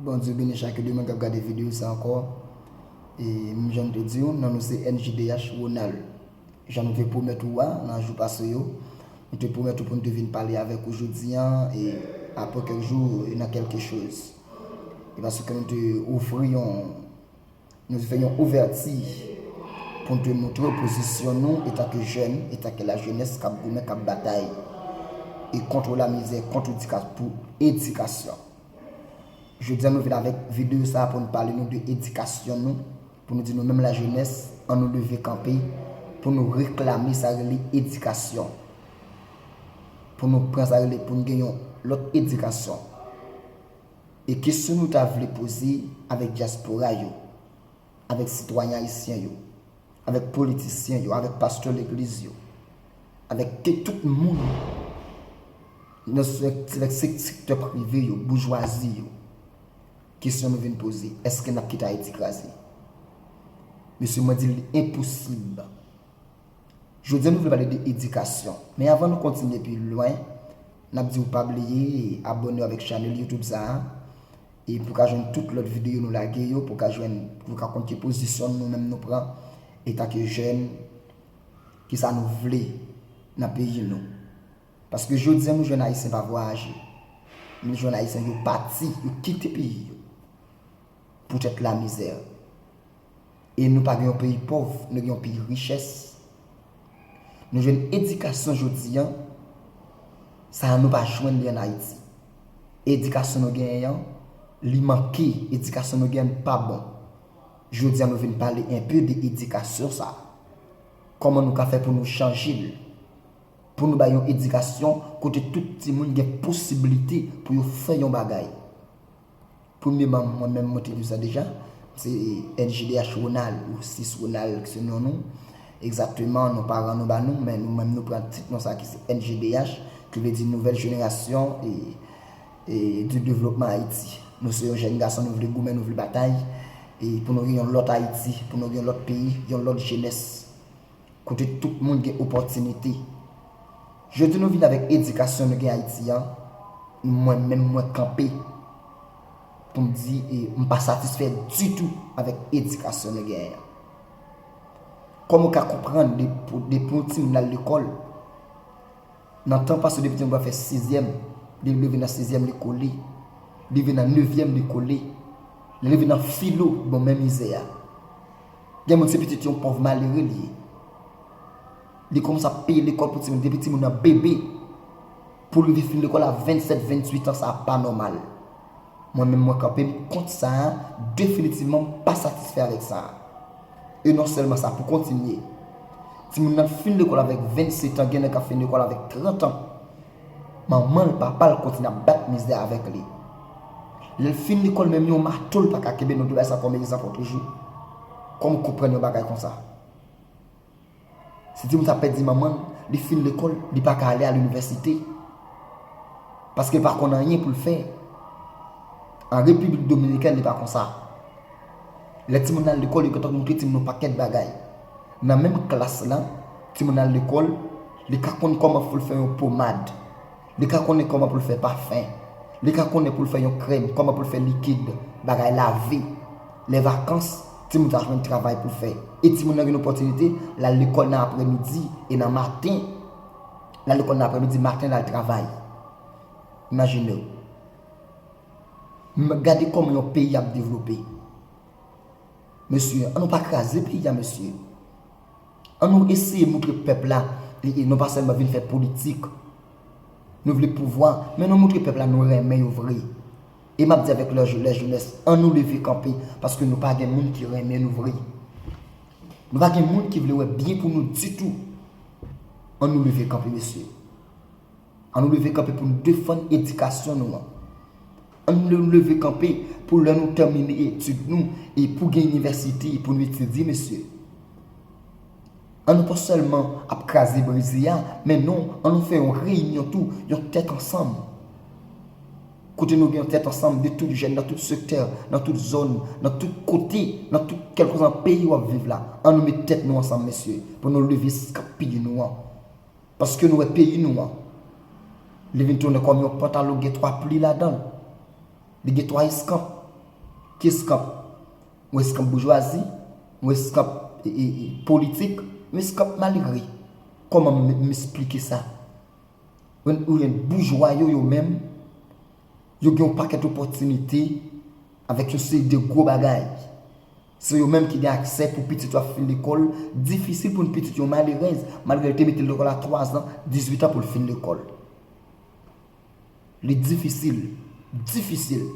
Bondye beni chak de moun kap gade video sa ankò e menm jan m te diw non nou se NJDH Ronald jan nou te pwomèt ou a nan jou pase yo nou te pwomèt ou pou nou te vin pale avèk ou jodi an e aprè kèk jou e nan kèlke choz e paske nou te ofri yon Nou fè yon ouvèti pou n te montre w pozisyon nou etanke jèn, etanke lajenès k ap goumen, k ap batay e kontre lamizè, kontre pou edikasyon. Jodi a nou vin avèk videyo sa a pou nou pale nou de edikasyon nou, pou nou di nou menm lajenès an nou leve kanpe pou nou reklame sa rele edikasyon, pou nou pran sa rele pou n gen yon lòt edikasyon. E kesyon nou ta vle poze avèk dyaspora yo, avèk sitwayen ayisyen yo, avèk politisyen yo, avèk pastè legliz yo, avèk ke tout moun nan sektè prive yo, boujwazi yo, kesyon nou vin poze, eske n ap kite Ayiti kraze? Mesye mwen di l li enposib. Jodi a nou vle pale de edikasyon. Men avan nou kontinye pi lwen, nap diw pa bliye abònew avèk chanèl youtube sa a e pou ka jwenn tout lòt videyo nou lage yo, pou ka jwenn, pou nou ka konn ki pozisyon nou menm nou pran etan ke jèn, ki sa nou vle nan peyi nou. Paske jodi a nou jwenn ayisyen pa vwayaje. Nou jwenn ayisyen yo pati, yo kite peyi yo. Poutèt lamizè. E nou pa gen yon peyi pòv, nou gen yon peyi richès. Nou jwenn edikasyon jodi an, sa nou pa jwenn li an Ayiti. Edikasyon nou genyen an, li manke. Edikasyon nou genyen an pa bon. Jodi an nou vin pale enpe de edikasyon sa a. Kòman nou ka fè pou nou chanje l? Pou nou bay yon edikasyon kote tout timoun gen posiblite pou yo fè yon bagay. Premye manm mwen menm mwen te di sa deja, se NJDH Ronald ou Sis Ronald ki se non nou. Egzakteman non paran nou ba nou, men nou menm nou pran tit non sa ki se NJDH ki vle di Nouvèl Jenerasyon du Devlopman Ayiti. Nou se yon jèn gason nou vle goumen, nou vle batay pou nou gen yon lòt Ayiti, pou nou gen yon lòt peyi, yon lòt jenès. Kote tout moun gen opòtinite. Jodi nou vini avèk edikasyon nou gen Ayiti an, mwen menm mwen kanpe pou m di e m pa satisfè ditou avèk edikasyon nou genyen an. Kòman ou ka konprann depi yon timoun al lekòl, Nan tan pase depi Tingbra fè sizyèm, lè l rive nan sezyèm li kole, li rive nan nevyèm li kole, lè l rive nan filo bon men mizè a. Gen moun se pitit yon pòv malere li ye. Li kòmanse ap peye lekòl pou timoun depi timoun nan bebe pou l rive fin lekòl a 27, 28 an sa pa nòmal. Mwen menm mwen kanpe m kont sa a definitivman m pa satisfè avèk sa a. E non sèlman sa, pou kontinye, timoun nan fin lekòl avèk 20 setan, gen nèg k ap fin lekòl avèk 30 an, manman l, papa l kontinye ap bat mizè avèk li. Lè l fin lekòl menm yon mato l pa ka kenbe, nou te bay sa kòm egzanp lòt jou, kòm w konprann yon bagay konsa? Se di m sa pèdi manman l, li fin lekòl, li pa ka ale a linivèsite. Paske l pa konn anyen pou l fè. An Repiblik Dominikèn li pa konsa. Lè timoun nan al lekòl, yo gentan montre timoun yon pakèt bagay. Nan menm klas lan, timoun nan al lekòl, li ka konn kòman pou l fè yon pomad. Li ka konnen kòman pou l fè pafen. Li ka konnen pou l fè yon krèm, kòman pou l fè likid, bagay lave. Lè vakans, timoun sa a jwenn travay pou l fè. E timoun nan gen opòtinite l al lekòl nan aprèmidi e nan maten. L al lekòl nan aprèmidi, maten l al travay. Imajine w. Gade kòman yon peyi ap devlope. Mesye, an nou pa kraze peyi a mesye. An nou eseye moutre pèp la li e nou pa sèlman vin fè politik. Nou vle pouvwa, men nou moutre pèp la nou renmen yo vre. E map di avèk lè jenès an nou leve kanpe paske nou pa gen moun ki renmen nou vre. Nou pa gen moun ki vle wè byen pou nou ditou. An nou leve kanpe mesye. An nou leve kanpe pou nou defann edikasyon nou an. An nou leve kanpe pou lè nou tèmine etid nou e pou gen inivèsite pou nou etidye mesye. An nou pa sèlman ap kraze brize a men non an nou fè yon reyinyon tou, yon tèt ansanm. Kote nou gen yon tèt ansanm de tout jèn nan tout sektè, nan tout zòn, nan tout kote, nan tout kèlkòz an peyi wap viv la. An nou met tèt nou ansanm mesye pou nou leve skanp pil nou an. Paske nou wè peyi nou an, li vin tounen kòm yon pantalon ki gen 3 pli ladan l. Li gen 3 eskanp. Ki eskanp? Yon eskanp boujwazi, yon eskanp politik, yon eskanp malere. Kòman m esplike sa? Ou jwenn boujwa yo yo menm, yo gen yon pakèt opòtinite avèk yon seri de gwo bagay. Se yo menm ki gen aksè pou pitit yo ap fin lekòl, difisil pou yon pitit yon malerèz, malgre li te mete l lekòl a 3 zan, 18 an pou l fin lekòl. Li difisil, difisil.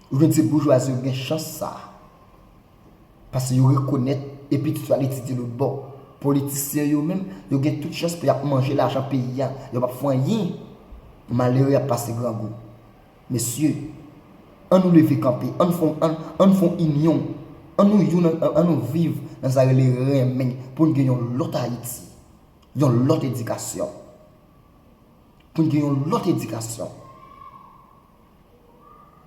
Ou jwenn se boujwazi yo ki gen chans sa a. Pase yo rekonèt e pitit yo al etidye lotbò. Politisyen yo menm, yo gen tout chans pou y ap manje lajan peyi a, yo p ap fè anyen. Malere ap pase grangou. Mesye, an nou leve kanpe, an nou fon inyon, an nou youn an nou viv nan sa rele renmen pou n gen yon lòt Ayiti, yon lòt edikasyon. Pou n gen yon lòt edikasyon.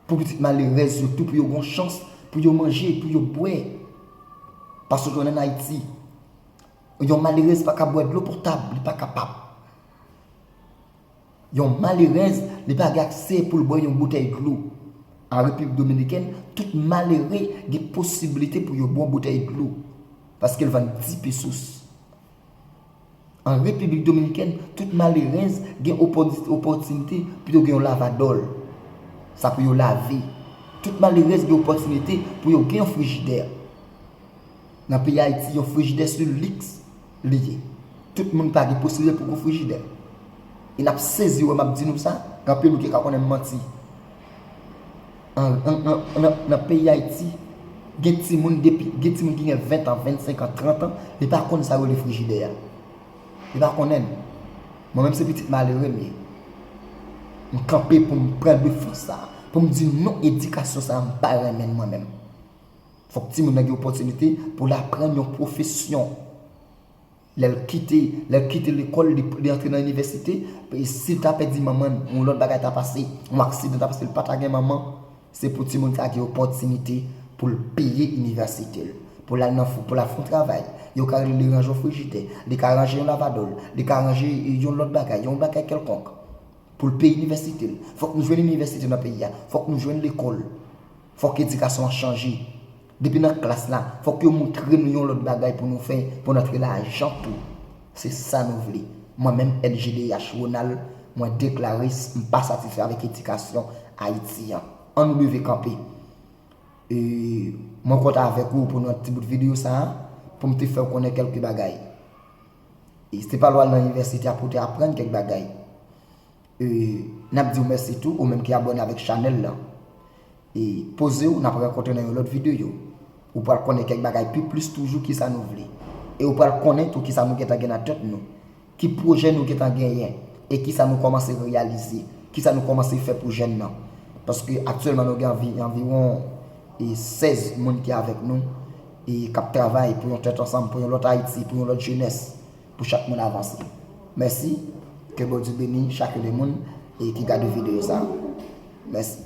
Pou pitit malerèz yo tou pou yo gon chans pou yo manje, pou yo bwè. Paske konnen an Ayiti, yon malerèz pa ka bwè dlo potab, li pa kapab. Yon malerèz li pa gen akse pou l bwè yon boutèy dlo. An Repiblik Dominikèn, tout malere gen posibilite pou yo bwè yon boutèy dlo, paske l vann ti pi sous. An Repiblik Dominikèn, tout malerèz gen opòtinite pou yo gen yon lavadòl, sa pou yo lave. Tout malerèz gen opòtinite pou yo gen yon frijidè. Nan peyi Ayiti yon frijidè se liks li ye. Tout moun pa gen posibite pou gwo frijidè. E n ap sezi wè m ap di nou sa, gen anpil moun ki ka konnen m manti. Nan peyi Ayiti, gen timoun depi, gen timoun ki gen 20 tan, 25 an, 30 an, li pa konnen sa yo rele frijidè a. Li pa konnen l. Mwen menm se pitit malere m ye. M kanpe pou m pran defans sa a. Pou m di non edikasyon sa a m pa renmen l mwen menm. Fòk timoun nan gen opòtinite pou l aprann yon pwofesyon. Lè l kite, lè l kite lekòl, li antre nan inivèsite, si l ta pèdi manman l, yon lòt bagay ta pase, yon aksidan ta pase l pa ta gen manman, se pou timoun sa gen opòtinite pou l peye inivèsite l, pou l al nan pou l al fè yon travay. Yo ka rele li ranje yon frijidè, li ka ranje yon lavadò l, li ka ranje yon lòt bagay, yon bagay kèlkonk pou l peye inivèsite l. Fòk nou jwenn inivèsite nan peyi a. Fòk nou jwenn lekòl. Fòk edikasyon an chanje. Depi nan klas la, fòk yo moutre nou yon lòt bagay pou nou fè pou n antre lajan tou. Se sa nou vle. Mwen menm LGDH Ronald, mwen deklare s m pa satisfè avèk edikasyon Ayiti an. An nou leve kanpe. E, mwen kontan avèk ou pou nan ti bout videyo sa a, pou m te fè w konnen kèlke bagay. E, se pa lè w al nan inivèsite a pou w te aprann kèk bagay. E nap diw mèsi tou ou menm ki abòne avèk chanèl lan. E pozew nap rankontre nan yon lòt videyo. Ou pral konnen kèk bagay pi plis toujou kisa nou vle. E ou pral konnen tou kisa nou gentan gen nan tèt nou. Ki pwojè nou gentan genyen. E kisa nou kòmanse reyalize. Kisa nou kòmanse fè pou jèn nan. Paske aktyèlman nou gen anviwon 16 moun ki avèk nou. E kap travay pou yon tèt ansanm, pou yon lòt Ayiti, pou yon lòt jenès. Pou chak moun avanse. Mèsi. Ke Bondye beni chak yon de moun ki gade video sa. Mèsi.